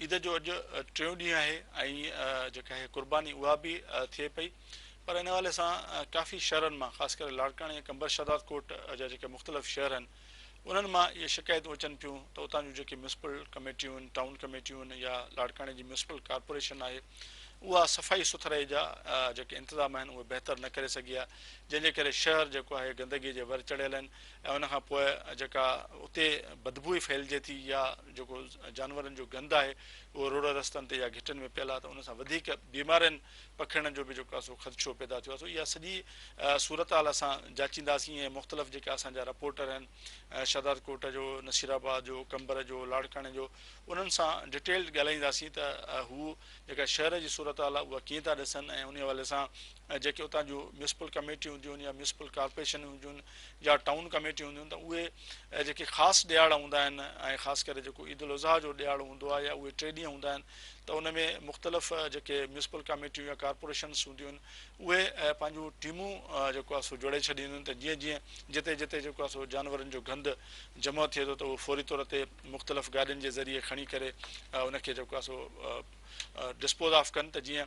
عيد جو اڄ ٽيون ڏينهن آهي ۽ جيڪا هيء قرباني اها به ٿئي پئي پر ان حوالي سان ڪافي شهرن مان خاص ڪري لاڙڪاڻي ۽ قمبر شهدادڪوٽ جا جيڪي مختلف شهر آهن انهن مان اهي شڪايتون اچن پيون ته اتان جون جيڪي ميونسپل ڪميٽيون، ٽائون ڪميٽيون يا لاڙڪاڻي جي ميونسپل ڪارپوريشن آهي اها صفائي سٿرائي جا جيڪي انتظام آهن اهي بهتر نه ڪري سگهي آهي جنهن جي ڪري شهر جيڪو آهي گندگي جي ور چڙهيل آهن ۽ ان کان پوء جيڪا اتي بدبوئي ڦهلجي ٿي يا جيڪو جانورن جو گند آهي اهو روڊ رستن تي يا گهٽين ۾ پيل آهي ته ان سان وڌيڪ بيمارين پکڙڻ جو به جيڪو آهي سو خدشو پيدا ٿيو آهي سو اها سڄي صورتحال اسان جاچينداسين ۽ مختلف جيڪا اسان جا رپورٽر آهن شهداد ڪوٽ جو نصير آباد جو قمبر جو لاڙڪاڻي جو انهن سان ڊيٽيلڊ ڳالهائينداسين ته هو جيڪا شهر جي صورتحال آهي اها ڪيئن ٿا ڏسن ۽ ان حوالي سان جيڪي اتان جون ميونسپل ڪميٽيون هونديون آهن يا ميونسپل ڪارپوريشنون هونديون آهن يا ٽائون ڪميٽيون هونديون آهن ته اهي جيڪي خاص ڏهاڙا هوندا آهن ۽ خاص ڪري جيڪو عيد الاضحيٰ جو ڏهاڙو هوندو آهي يا اهي ٽي ڏينهن هوندا آهن ته ان ۾ مختلف جيڪي ميونسپل ڪميٽيون يا ڪارپوريشنس هونديون آهن اهي پنهنجون ٽيمون جيڪو آهي سو جوڙي ڇڏينديون آهن ته جيئن جيئن جتي جتي جيڪو آهي سو جانورن جو گند جمع ٿئي ٿو ته اهو فوري طور تي مختلف گاڏين جي ذريعي کڻي ڪري ان کي جيڪو آهي سو ڊسپوز آف ڪن ته جيئن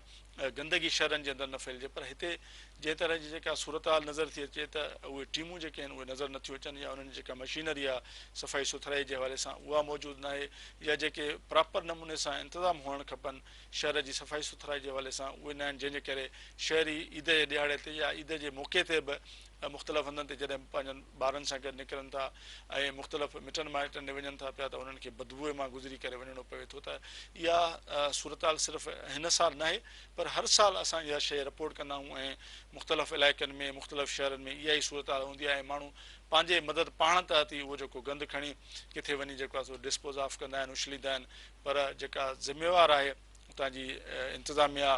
گندگي شھرن جي اندر نه ڦھلجي پر ھتي جنھن طرح جي جيڪا صورتحال نظر ٿي اچي ته اھي ٽيمون جيڪي آھن اھي نظر نٿيون اچن يا انھن جي جيڪا مشينري آھي صفائي سٿرائي جي حوالي سان اھا موجود ناھي يا جيڪي پراپر نموني سان انتظام ھئڻ کپن شھر جي صفائي سٿرائي جي حوالي سان اھي ناھن جنھن جي ڪري شھري عيد جي ڏھاڙي تي يا عيد جي موقعي تي به مختلف هنڌن تي جڏهن پنهنجن ٻارن سان گڏ نڪرن ٿا ۽ مختلف مٽن مائٽن ڏي وڃن ٿا پيا ته انهن کي بدبوء مان گذري ڪري وڃڻو پوي ٿو ته اها صورتحال صرف هن سال ناهي پر هر سال اسان اها شيء رپورٽ ڪندا آهيون ۽ مختلف علائقن ۾ مختلف شهرن ۾ اها ئي صورتحال هوندي آهي ۽ ماڻهو پنهنجي مدد پاڻ تحت ئي اهو جيڪو گند کڻي ڪٿي وڃي جيڪو آهي سو ڊسپوز آف ڪندا آهن اڇليندا آهن پر جيڪا ذميوار آهي اتان جي انتظاميا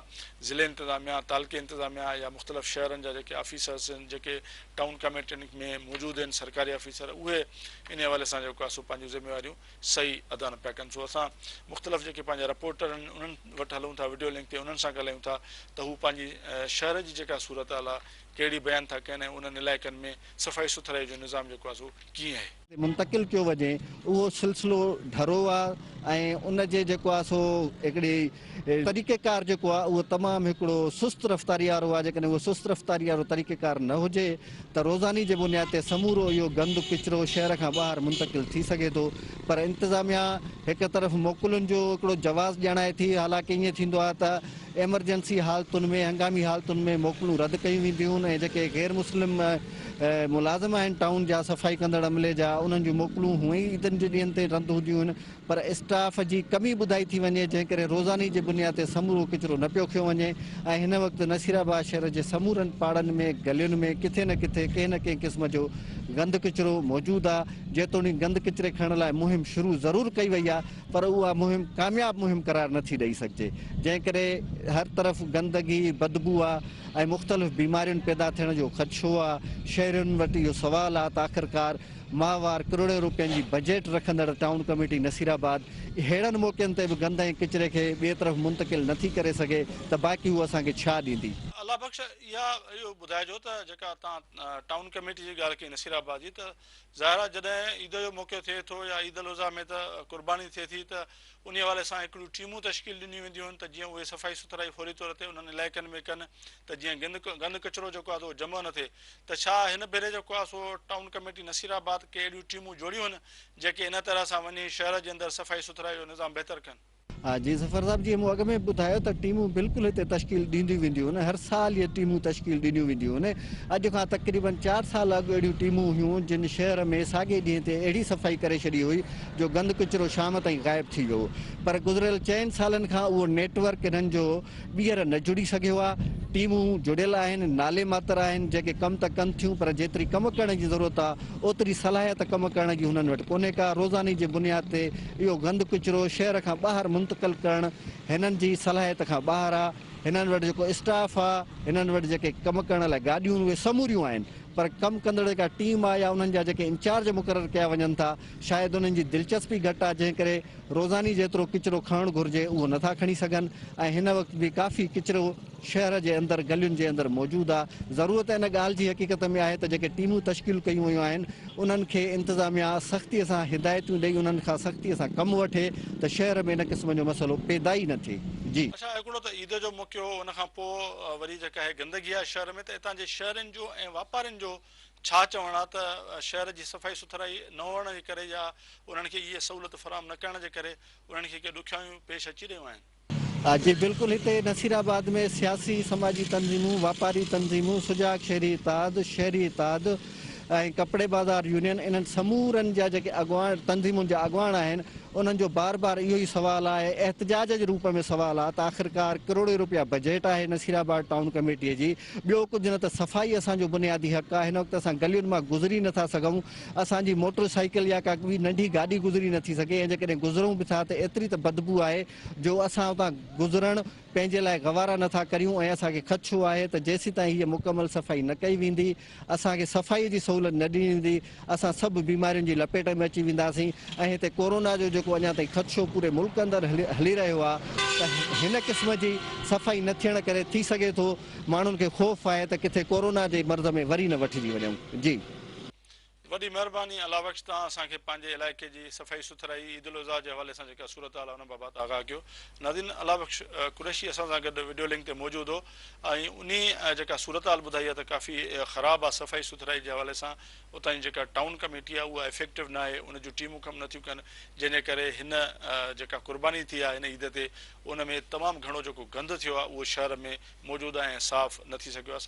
ضلعي انتظاميا تعلقي انتظاميا يا مختلف شهرن جا جيڪي آفيسرس ان جيڪي ٽائون ڪميٽين ۾ موجود ان سرڪاري آفيسر اهي ان حوالي سان جيڪو آهي سو پنهنجون ذميواريون صحيح ادا نه پيا ڪن سو اسان مختلف جيڪي پنهنجا رپورٽر ان انهن وٽ هلون ٿا وڊيو لنڪ تي انهن سان ڳالهايون ٿا ته هو پنهنجي شهر جي جيڪا صورتحال آهي ڪهڙي بيان ٿا ڪن ۽ انهن علائقن ۾ صفائي سٿرائي جو نظام جيڪو آهي سو ڪيئن آهي. تي منتقل ڪيو وڃي اهو سلسلو ڍرو آ ۽ ان جي جيڪو آ سو هڪڙي طريقه ڪار جيڪو آ اهو تمام هڪڙو سست رفتاري وارو آ جيڪڏهن اهو سست رفتاري وارو طريقه ڪار نه هجي ته روزاني جي بنياد تي سمورو اهو گند ڪچرو شهر کان ٻاهر منتقل ٿي سگهي ٿو پر انتظاميا هڪ طرف موڪلن جو هڪڙو جواز ڄاڻائي ٿي حالانڪه ائين ٿيندو آ ته ايمرجنسي حالتن ۾ هنگامي حالتن ۾ موڪلون رد ڪيون وينديون ۽ جيڪي غير مسلم ملازم آهن ٽائون جا، صفائي ڪندڙ عملي جا، انهن جون موڪلون هونئن ئي عيدن جي ڏينهن تي رند هونديون هن، پر اسٽاف جي ڪمي ٻڌائي ٿي وڃي، جنهن ڪري روزاني جي بنياد تي سمورو ڪچرو نه پيو کنيو وڃي ۽ هن وقت نصيرآباد شهر جي سمورن پاڙن ۾ گلين ۾ ڪٿي نه ڪٿي ڪنهن نه ڪنهن قسم جو گند ڪچرو موجود آ، جيتوڻيڪ گند ڪچري کڻڻ لاء مهم شروع ضرور ڪئي وئي آ، پر اها مهم ڪامياب مهم قرار نه ٿي ڏئي سگهجي، جنهن ڪري هر طرف گندگي، بدبو آ. ۽ مختلف بيمارين پيدا ٿيڻ جو خدشو آ، شهرين وٽ اهو سوال آ ته آخرڪار ماهوار ڪروڙين روپين جي بجيٽ رکندڙ ٽائون ڪميٽي نصير آباد اهڙن موقعن تي به گند ۽ ڪچري کي ٻئي طرف منتقل نه ٿي ڪري سگهي ته باقي هو اسان کي ڇا ڏيندي. الله بخش اها اهو ٻڌائجو ته جيڪا توهان ٽائون ڪميٽي جي ڳالهه ڪئي نصير آباد جي ته ظاهر آ جڏهن عيد جو موقعو ٿئي ٿو يا عيد الاضحيٰ ۾ ته قرباني ٿئي ٿي ته انهي حوالي سان هڪڙيون ٽيمون تشڪيل ڏنيون وينديون هن ته جيئن اهي صفائي سٿرائي فوري طور تي انهن علائقن ۾ ڪن ته جيئن گند ڪچرو جيڪو آهي اهو جمع نه ٿئي ته ڇا هن ڀيري جيڪو آهي سو ٽائون ڪميٽي نصير آباد ڪي اهڙيون ٽيمون جوڙيون هن جيڪي ان طرح سان وڃي شهر جي اندر صفائي سٿرائي جو نظام بهتر ڪن. ها جي ظفر صاحب جيئن مون اڳ ۾ به ٻڌايو ته ٽيمون بلڪل هتي تشڪيل ڏينديون وينديون هن هر سال اهي ٽيمون تشڪيل ڏنيون وينديون هن اڄ کان تقريبن چار سال اڳ اهڙيون ٽيمون هيون جن شهر ۾ ساڳي ڏينهن تي اهڙي صفائي ڪري ڇڏي هئي جو گند ڪچرو شام تائين غائب ٿي ويو پر گذريل چئن سالن کان اهو نيٽ ورڪ انهن جو ٻيهر نه جڙي سگهيو آهي، ٽيمون جڙيل آهن، نالي ماتر آهن، جيڪي ڪم ته ڪن ٿيون پر جيتري ڪم ڪرڻ جي ضرورت آهي اوتري صلاحيت ڪم ڪرڻ جي هنن وٽ ڪونهي ڪا، روزاني جي بنياد تي اهو گند ڪچرو شهر کان ٻاهر منتقل ڪرڻ هنن جي صلاحيت کان ٻاهر آهي، هنن وٽ جيڪو اسٽاف آهي، هنن وٽ جيڪي ڪم ڪرڻ لاء گاڏيون اهي سموريون آهن پر ڪم ڪندڙ جيڪا ٽيم آهي يا انهن جا جيڪي انچارج مقرر ڪيا وڃن ٿا، شايد انهن جي دلچسپي گهٽ آ جنهن ڪري روزاني جيترو ڪچرو کڻڻ گهرجي اهو نٿا کڻي سگهن ۽ هن وقت به ڪافي ڪچرو شهر جي اندر گلين جي اندر موجود آ ضرورت ان ڳالهه جي حقيقت ۾ آهي ته جيڪي ٽيمون تشڪيل ڪيون ويون آهن انهن کي انتظاميا سختي سان هدايتون ڏئي انهن کان سختي سان ڪم وٺي ته شهر ۾ ان قسم جو مسئلو پيدا ئي نه ٿئي جي. اڇا هڪڙو ته عيد جو موقعو هو ان کان پوء وري جيڪا هي گندگي آ شهر ۾ ته اتان جي شهرين جو ۽ واپارين جو ڇا چوڻ آ ته شهر جي صفائي سٿرائي نه هئڻ جي ڪري يا انهن کي اهي سهولت فراهم نه ڪرڻ جي ڪري انهن کي ڪي ڏکيائيون پيش اچي رهيون آهن. جي بلڪل هتي نصير آباد ۾ سياسي سماجي تنظيمون، واپاري تنظيمون، سجاڳ شهري اتحاد، شهري اتحاد ۽ ڪپڙي بازار يونين انهن سمورن جا جيڪي اڳواڻ تنظيمون جا اڳواڻ آهن انهن جو بار بار اهو ئي سوال آهي احتجاج جي روپ ۾ سوال آ ته آخرڪار ڪروڙين روپيا بجيٽ آهي نصير آباد ٽائون ڪميٽي جي ٻيو ڪجهه نه ته صفائي اسان جو بنيادي حق آهي، هن وقت اسان گلين مان گذري نه ٿا سگهون، اسان جي موٽر سائيڪل يا ڪا ٻي ننڍي گاڏي گذري نه ٿي سگهي ۽ جيڪڏهن گذرون به ٿا ته ايتري ته بدبو آهي جو اسان اتان گذرڻ پنهنجي لاء گوارا نه ٿا ڪريون ۽ اسان کي خدشو آهي ته جيسيتائين هيء مڪمل صفائي نه ڪئي ويندي، اسان کي صفائي جي سهولت نه ڏني ويندي. اسان سڀ بيمارين جي لپيٽ ۾ اچي وينداسين ۽ هتي ڪورونا جو جيڪو اڃا تائين خدشو پوري ملڪ اندر هلي رهيو آهي ته هن قسم جي صفائي نه ٿيڻ ڪري ٿي سگهي ٿو ماڻهن کي خوف آهي ته ڪٿي ڪورونا جي مرض ۾ وري نه وٺجي وڃون جي. وڏي مهرباني الله بخش توهان اسان کي پنهنجي علائقي جي صفائي سٿرائي عيد الاضحيٰ جي حوالي سان جيڪا صورتحال آهي ان بابت آگاهه ڪيو. ناظرين الله بخش قريشي اسان سان گڏ وڊيو لنڪ تي موجود هو. ۽ انهي جيڪا صورتحال ٻڌائي آهي ته ڪافي خراب آهي صفائي سٿرائي جي حوالي سان اتان جي جيڪا ٽائون ڪميٽي آهي اها افيڪٽو ناهي ان جون ٽيمون ڪم نٿيون ڪن جنهن جي ڪري هن جيڪا قرباني ٿي آهي هن عيد تي ان ۾ تمام گهڻو جيڪو گند ٿيو آهي اهو شهر ۾ موجود آهي ۽ صاف نه ٿي سگهيو آهي.